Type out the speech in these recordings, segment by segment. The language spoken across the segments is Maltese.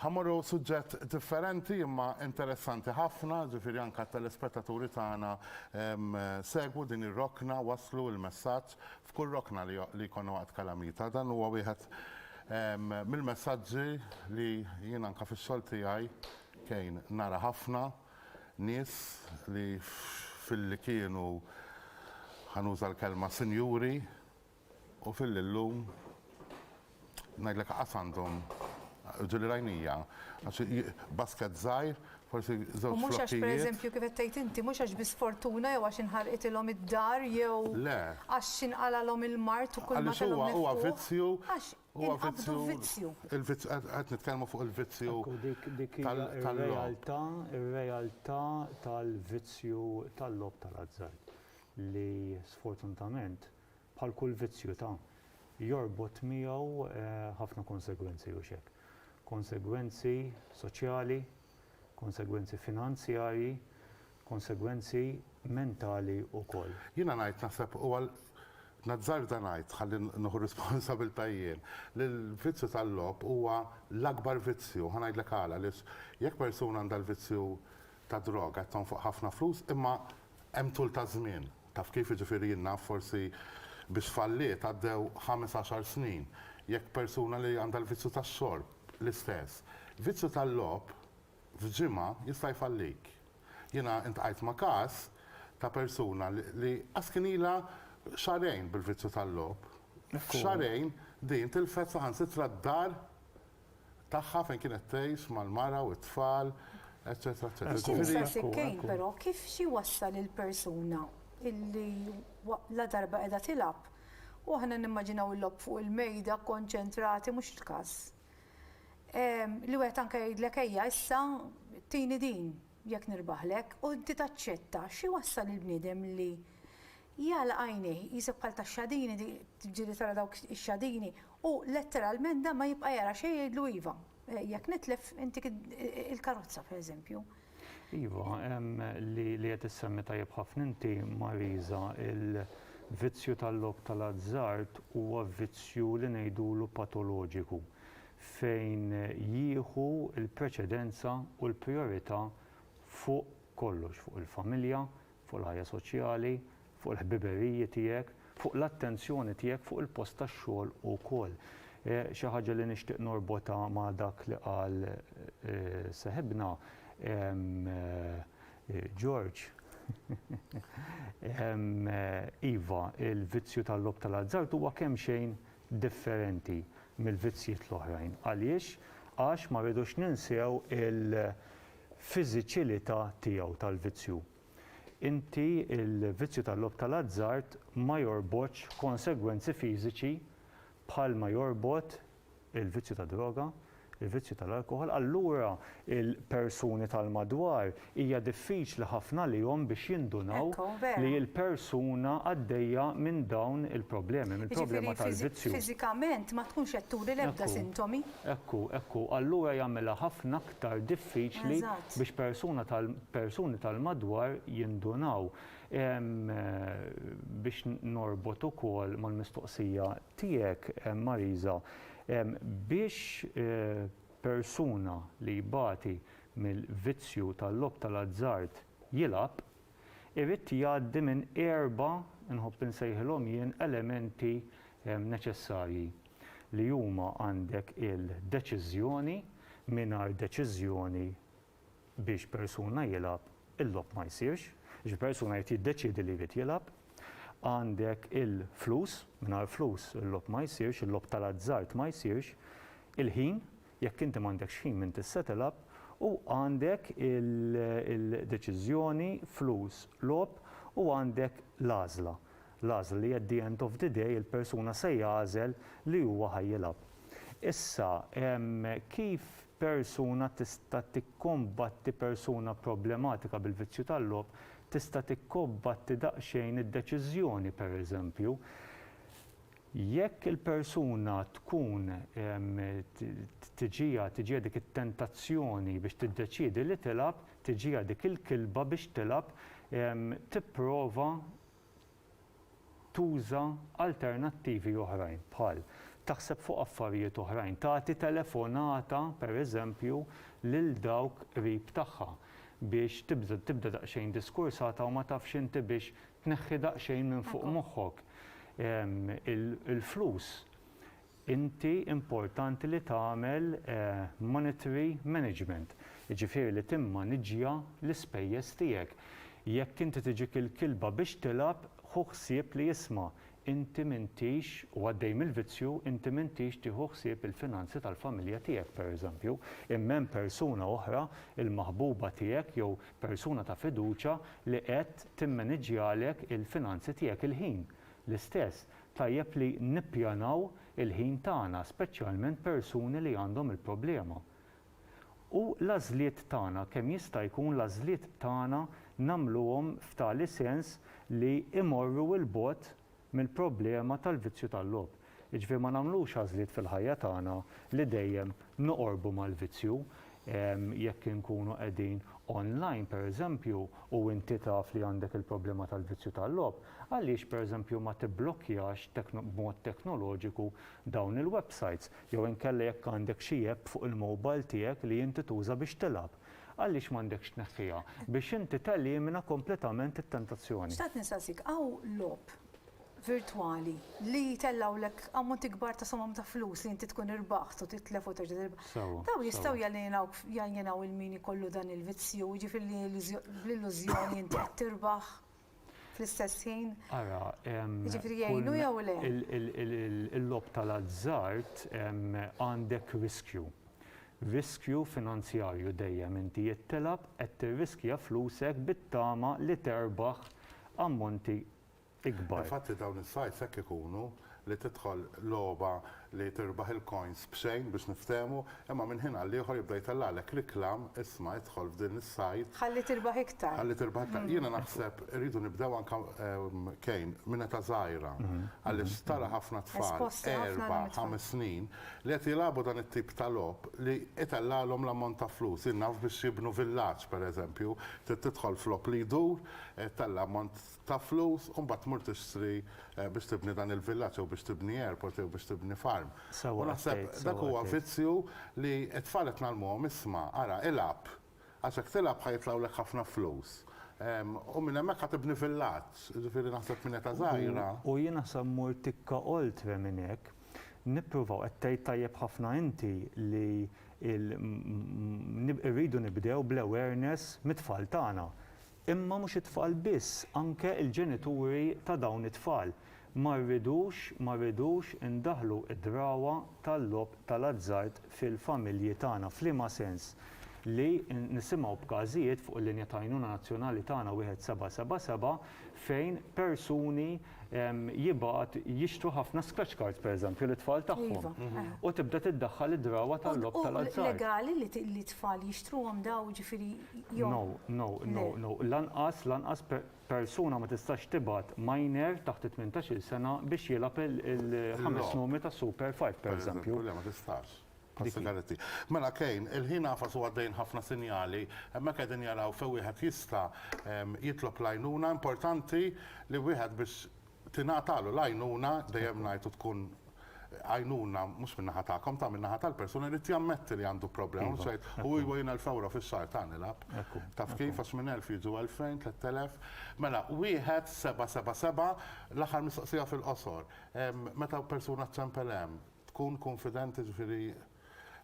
Ħa mmorru suġġett differenti imma interessanti ħafna, ġifieri anke t-telespettaturi tagħna segwu din ir-rokna, wasslu l-messaġġ f'kull rokna li li jkollna waqt kalamita. Dan huwa wieħed mill-messaġġi li jien anke fix-xogħol tiegħi kejn nara ħafna nies li filli kienu ħa nuża l-kelma sinjuri, U fil-illum ngħidlek aqas għandhom ġieli rajnija, għax basket żgħir, forsi żewġ flokkijiet. U mhux għax pereżempju kif qed tgħid inti, mhux għax bi sfortuna jew għax inħarqitilhom id-dar jew għax x'inqalgħalhom il-mard u kull ma kellhom miftuħ. Huwa vizzju. Għax inqabdu vizzju. Qed nitkellmu fuq il-vizzju. Dik ir-realtà, ir-realtà tal-vizzju tal-logħob tal-azzard li sfortunatament bħal kull vizzju ta' jorbot miegħu ħafna konsegwenzi hux hekk. Konsegwenzi soċjali, konsegwenzi finanzjarji, konsegwenzi mentali wkoll. Jiena ngħid naħseb huwa nazzarda ngħid ħalli nieħu r-responsabilità jien li l-vizzju tal-logħob huwa l-akbar vizzju. Ħa ngħidlek għala, għaliex jekk persuna għandha l-vizzju tad-droga qed tonfoq ħafna flus imma Hemm tul ta' żmien. Taf kif, jiġifieri jien naf forsi biex falliet għaddew ħames għaxar snin. Jekk persuna li għandha l-vizzju tax-xorb, l-istess. Vizzju tal-logħob f'ġimgħa jista' jfallik. Jiena intqajt ma' każ ta' persuna li qas kien ilha xahrejn bil-vizzju tal-logħob. F'xahrejn din tilfet saħansitra d-dar tagħha fejn kienet tgħix mal-mara u t-tfal, eċċetera eċċetera. Ġifieri Skuża Sikkejn, però kif xi jwassal il-persuna illi ladarba qiegħda tilgħab u aħna nimmaġinaw il-logħob fuq il-mejda kkonċentrati mhux il-każ. Li wieħed anke jgħidlek ejja issa tini din jekk nirbaħlek u inti taċċetta, xi jwassal il-bniedem li Jagħlaq għajnejh, jqisek bħal tax-xadini, tiġġieli tara dawk ix-xadini, u letteralment dan ma jibqa' jara xejn jgħidlu iva, jekk nitlef intik il-karozza pereżempju. Iva, hemm li li qed issemmi tajjeb ħafna inti Marisa, il-vizzju tal-logħob tal-azzard huwa vizzju li ngħidulu patoloġiku fejn jieħu l-preċedenza u l-prijorità fuq kollox, fuq il-familja, fuq il-ħajja soċjali, fuq il-ħbiberiji tiegħek, fuq l-attenzjoni tiegħek fuq il-post tax-xogħol ukoll. Xi ħaġa li nixtieq norbotha ma' dak li qal seħibna George. Iva, il-vizzju tal-logħob tal-azzard huwa kemm xejn differenti mill-vizzjiet l-oħrajn. Għaliex? Għax ma rridux ninsew fiżiċilità tiegħu tal-vizzju. Inti l-vizzju tal-logħob tal-azzard ma jorbotx konsegwenzi fiżiċi bħalma jorbot il-vizzju tad-droga, il-vizzju tal-alkoħol, allura l-persuni tal-madwar hija diffiċli ħafna għalihom biex jindunaw li l-persuna għaddejja minn dawn il-problemi, mill-problema tal-vizzju. Fiżikament ma tkunx qed turi l-ebda sintomi. Ekku, ekku, allura jagħmilha ħafna iktar diffiċli biex persuna tal persuni tal-madwar jindunaw. Biex norbot ukoll mal-mistoqsija tiegħek Marisa, biex persuna li jbati mill-vizzju tal-logħob tal-azzard jilgħab, irid jgħaddi minn erba', nħobb insejħilhom jien, elementi neċessarji. li huma għandek il-deċiżjoni mingħajr deċiżjoni biex persuna jilgħab, il-logħob ma jsirx, jiġifieri persuna jrid jiddeċiedi li jrid jilgħab, għandek il-flus, mingħajr flus il-logħob ma jsirx, il-logħob tal-azzard ma jsirx, il-ħin, Jekk inti m'għandekx ħin minn tissettle up u għandek il-deċiżjoni, flus, logħob u għandek l-għażla. L-għażla li at the end of the day il-persuna se jagħżel li huwa ħa jilgħab. Issa, kif persuna tista' tikkombatti persuna problematika bil-vizzju tal-logħob tista' tikkobbatti daqsxejn id-deċiżjoni, pereżempju, Jekk il-persuna tkun tiġiha tiġiha dik it-tentazzjoni biex tiddeċiedi li tilgħab, tiġiha dik il-kilba biex tilgħab, tipprova tuża alternattivi oħrajn bħal, taħseb fuq affarijiet oħrajn, tagħti telefonata pereżempju lil dawk qrib tagħha biex tibda daqsxejn diskursata u ma tafx inti biex Tneħħi daqsxejn minn fuq moħħok il-flus. Inti importanti li tagħmel monetary management, jiġifieri li timmaniġġja l-ispejjeż tiegħek. Jekk inti tiġik il-kilba biex tilgħab, ħu ħsieb li isma', inti m'intix, u għaddej mill-vizzju, inti m'intix tieħu ħsieb il-finanzi tal-familja tiegħek, pereżempju, imma hemm persuna oħra, il-maħbuba tiegħek jew Persuna ta' fiduċja li qed timmaniġġjalek il-finanzi tiegħek il-ħin. L-istess, tajjeb li nippjanaw il-ħin tagħna, speċjalment persuni li għandhom il-problema. U l-għażliet tagħna, kemm jista' jkun l-għażliet tagħna nagħmluhom f'tali sens li imorru 'l bogħod mill-problema tal-vizzju tal-logħob. Jiġifieri ma nagħmlux għażliet fil-ħajja tagħna li dejjem noqorbu mal-vizzju. Jekk inkunu qegħdin online pereżempju u inti taf li għandek il-problema tal-vizzju tal-logħob, għaliex pereżempju ma tibblokkjax b'mod teknoloġiku dawn il-websites? Jew inkella jekk għandek xi app fuq il-mobile tiegħek li inti tuża biex tilgħab, Għaliex m'għandekx tneħħiha? Biex inti telimina kompletament it-tentazzjoni. Xtaqt nistaqsik, hawn logħob virtwali li jtellgħulek ammonti kbar ta' somom ta' flus li inti tkun irbaħt u titlef u terġa' tirbaħ. Sewwa. Dawn jistgħu jalienawk jaljenaw lil min ikollu dan il-vizzju, jiġifieri li bl-illużjoni inti qed tirbaħ? fl-istess ħin? Ara, jiġifieri jgħinu jew le? Il-logħob tal-azzard għandek riskju. Riskju finanzjarju dejjem inti jekk tilgħab qed tirriskja flusek bit-tama li terbaħ ammonti ikbar. Infatti dawn is-sajts hekk ikunu, li tidħol logħba li tirbaħ il-coins b'xejn biex niftehmu, imma minn ħin għall-ieħor jibda jtellagħlek reklam, isma' idħol f'din is-site, Ħalli tirbaħ iktar. ħalli tirbaħ iktar. Jiena naħseb irridu nibdew anke Cain minn età żgħira għaliex tara ħafna tfal erba', ħames snin li qed jilagħbu dan it-tip ta' logħob li itellagħlhom l-ammont ta' flus. Jien naf biex jibnu villaġġ pereżempju trid tidħol f'logħob li jdur, ittella' ammont, ta' flus u mbagħad tmur tixtri biex tibni dan il-villaġġ jew biex tibni airport jew biex tibni farm. U naħseb dak huwa vizzju li t-tfal qed ngħallmuhom isma' ara ilgħab għax jekk tilgħab ħa jitlgħulek ħafna flus u minn hemmhekk ħa tibni villaġġ. Jiġifieri naħseb minn età żgħira. U jien naħseb mmur tikka oltre minn hekk. Nippruvaw, qed tgħid tajjeb ħafna inti li l, irridu nibdew bl-awareness mit-tfal tagħna. Imma mhux it-tfal biss, anke il-ġenituri ta' dawn it-tfal. Ma rridux, ma rridux indaħħlu d-drawwa tal-logħob tal-azzard fil-familji tagħna. F'liema sens? Li nisimgħu b'każijiet fuq il-linja ta' għajnuna nazzjonali tagħna wieħed seba' seba' seba' fejn persuni jibgħat jixtru ħafna scratch cards pereżempju lit-tfal tagħhom. U tibda tiddaħħal id-drawwa tal-logħob tal-azzard. U legali li t-tfal jixtruhom dawn jiġifieri jew? No, no, no, no. Lanqas, lanqas persuna ma tistax tibgħat minor taħt it-tmintax-il sena biex jilgħab il-ħames numri tas-Super Five pereżempju. Le, ma tistax. Passa Garetti. Mela Kane, il-ħin għafas u għaddejjin ħafna sinjali, hemmhekk qegħdin jaraw fejn wieħed jista' jitlob l-għajnuna, importanti li wieħed biex tingħatalu l-għajnuna, dejjem ngħid u tkun għajnuna mhux min-naħa tagħkom, ta' min-naħa tal-persuna jrid jammetti li għandu problema, mhux jgħid u iva jien elf ewro fix-xahar ta' nilgħab. Taf kif għax minn elf jiġu elfejn, tlett elef. Mela, wieħed seba' seba' seba' l-aħħar mistoqsija fil-qosor. Meta persuna ċempel hemm, tkun kunfidenti ġifieri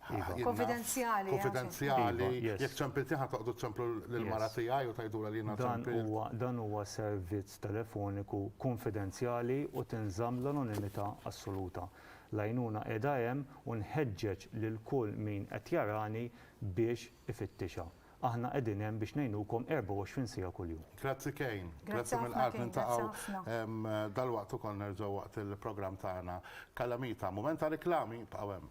Kunfidenzjali. Kunfidenzjali. Jekk ċempiltni ħa toqgħodu ċemplu lill-mara tiegħi u tgħidulha li jiena ċempilt. Dan huwa servizz telefoniku kunfidenzjali u tinżamm l-anonimità assoluta. L-għajnuna qiegħda hemm u nħeġġeġ lil kull min qed jarani biex ifittixha. Aħna qegħdin hemm biex ngħinukom 24 siegħa kuljum. Grazzi Kane. Grazzi mill-qalb niltaqgħu dalwaqt ukoll nerġgħu waqt il-programm tagħna Kalamita. Mument ta' riklami, ibqgħu hemm.